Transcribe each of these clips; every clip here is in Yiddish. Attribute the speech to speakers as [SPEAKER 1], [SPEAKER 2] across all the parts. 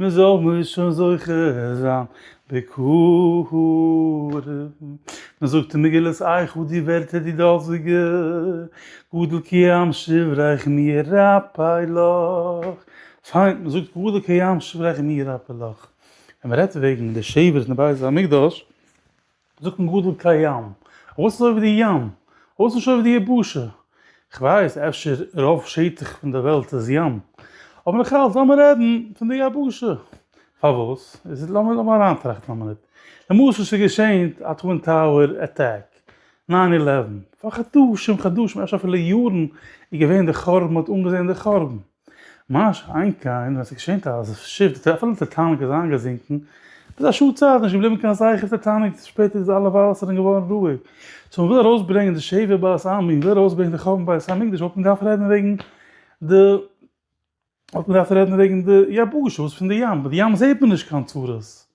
[SPEAKER 1] מ'זאל מיר שוין זוכה זיין בקרוב. מ'זאגט אין מגילת איכה די ווערטער די דאזיגע, גדל כים שבריך מי ירפא לך. פיין, מ'זאגט גדל כים שבריך מי ירפא לך. ווען מ'רעדט וועגן די שבר אין די בית המקדש, זאגט מען גדול כהים, וואס איז אויף די ים? וואס נישט אויף די יבשה? כ'ווייס, אפשר רוב שטח פון די וועלט איז ים, אבער נאך אלץ לאמיר רעדן פון די יבשה. פארוואס? לאמיר אריינטראכטן א מינוט. למשל ס'איז געשען א טווין טאוער אטאק, ניין אילעווען. פאר חדשים חדשים, אפשר אפילו יארן, איז געווען די חורבן, מ'האט אנגעזען די חורבן. ממש איין קאין ווען עס איז געשען אז דאס שיף די טעפעלע טייטאניק איז איינגעזינקן ביז א שעה צייט איז נישט געבליבן קיין זכר פון טייטאניק שפעטער איז אלע וואסערן געווארן רואיג סאו מען וויל ארויסברענגען די שבעה בית עמי מען וויל ארויסברענגען די חורבן בית המקדש וואלט מען געדארפט רעדן וועגן די וואלט מען געדארפט רעדן וועגן די יבשות פון די ים ביי די ים זעט מען נישט קיין צרות.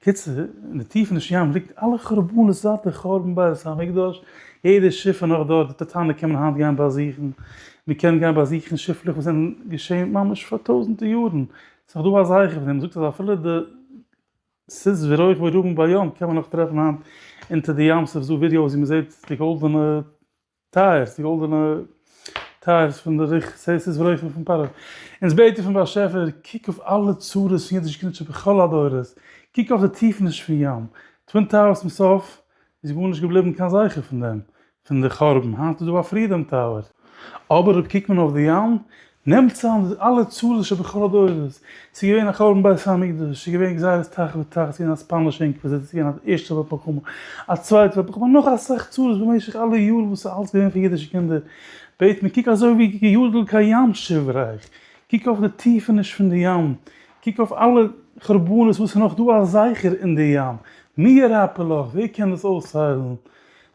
[SPEAKER 1] קיצור, אין די טיפעניש ים ליגט אלע חורבנות זייט די חורבן בית המקדש, יעדע שיף איז נאך דארט, די טיטאניק קען מען היינט גיין באזוכן, מען קען גיין באזוכן שיפלעך וואס זענען געשען ממש פאר טויזענטער יארן, ס'איז נאך דא א זכר פון דעם, מען זאגט אז אפילו די סוס ורויך ורובם ביום קען מען נאך טרעפן היינט אונטער די ים סוף, ס'איז דא ווידיאוס ווי מען זעט די גאלדענע. טייערס, די גאלדענע טייערס פון די ריח סעסעס ברויכן פון פרעה. אונז בעטן פון באשעפער, קוק אויף אלע צרות פון אידיש קינדשאפט בכל הדורות, קוק אויף די טיפעניש פון ים, טווין טאוערס צום סוף איז גארנישט געבליבן קיין זכר פון דעם, פון די חורבן, היינט איז דא א פרידאם טאוער. אבער אויב קוקט מען אויף די ים, נעמט צוזאם די אלע צהלות שבכל הדורות, ס'איז געווען א חורבן בית המקדש, ס'איז געווען גזירת תח ותט, ס'איז געווען א ספאנישע אינקוויזיציע, ס'איז געווען א ערשטע וועלט מלחמה, א צווייטע וועלט מלחמה, נאך אסאך צרות במשך אלע יארן וואס איז אלץ געווען פאר אידישע קינדער, בעת מען קוק אזוי ווי געיאדלט קיין ים שיף רייך, קוק אויף די טיפעניש פון די ים, קוק אויף אלע חורבנות וואס איז נאך דא א זכר אין די ים, מי ירפא לך, ווער קען דאס אויסהיילן,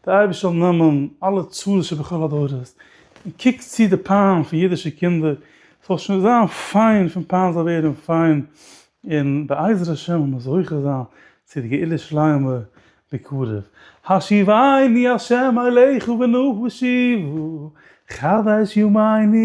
[SPEAKER 1] דער אייבערשטער זאל נעמען אלע צרות של בכל הדורות, און קוקט צו די פיין פון אידישע קינדער, ס'זאל שוין זיין פיין פון פיין זאל ווערן פיין, און בעזר השם וועל מען זוכה זיין צו די גאולה שלימה בקרוב. השיבני ה' אליך בנוח ושיבו חדש ימיני,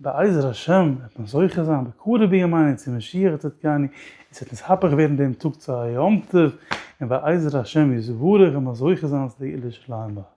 [SPEAKER 1] בעזר השם וועט מען זוכה זיין בקרוב בימינו צו משיח צדקנו, און ס'וועט אונז הפך ווערן דעם טאג צו א יום טוב, און בעזר השם יתברך וועלן מיר זוכה זיין צו די גאולה שלמה ב ה.